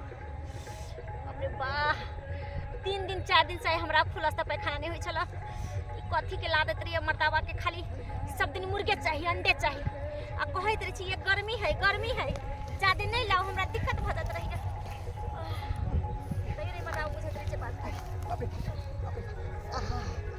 बाप रे बाह तीन दिन चार दिन से आइ हमरा खुलस्ता पैखाना नहि होइ छल ई कथी के ला दैत रहिए मर्दाबा के खाली सब दिन मुर्गे चाही अंडे चाही आ कहैत रहै छी ये गर्मी है गर्मी है जादे नहि लाउ हमरा दिक्कत भऽ जाइत रहैए तैयो नहि मर्दाबा बुझैत रहै छै बात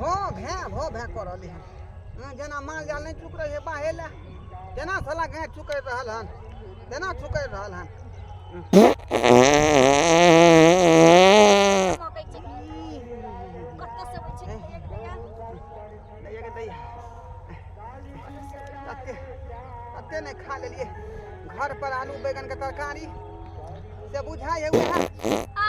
भँ भैँ भँ भैँ कऽ रहलै हन हँ, जेना माल जाल नहि चुक रहै छै बाहे लए तेना साला गाय चुकैर रहल हन तेना चुकैर रहल हन मकई छै कत से होइ छै दैया के दैया कते कते नहि खा लेलियै घर पर आलू बैगन के तरकारी से बुझाइ है उएह आ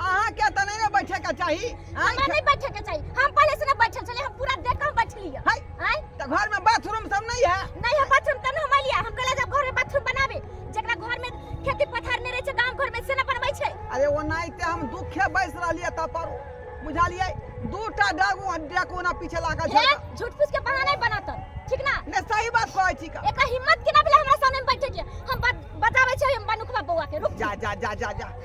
अहाँ के त नहीं ना बैठे के चाहिए हमरा नहीं बैठे के चाहिए हम पहले से ना बैठल चले हम पूरा देख हम बैठ लिए हाय हाय तो घर में बाथरूम सब नहीं है नहीं है बाथरूम तब हम लिया हम कहला जब घर में बाथरूम बनावे जकरा घर में खेती पथार नहीं रहे छै गांव घर में से ना बनबै छै अरे वो नहीं ते हम दुखे बैस रहलिए त पर बुझालिए दूटा डागू डाकू ना पीछे लागल छै झूठ फूस के बहाना नहीं बनात ठीक ना ने सही बात कहै छी का एक हिम्मत के ना भेले हमरा सामने बैठे के हम बताबै छै हम बनुखवा बौआ के रुक जा जा जा जा जा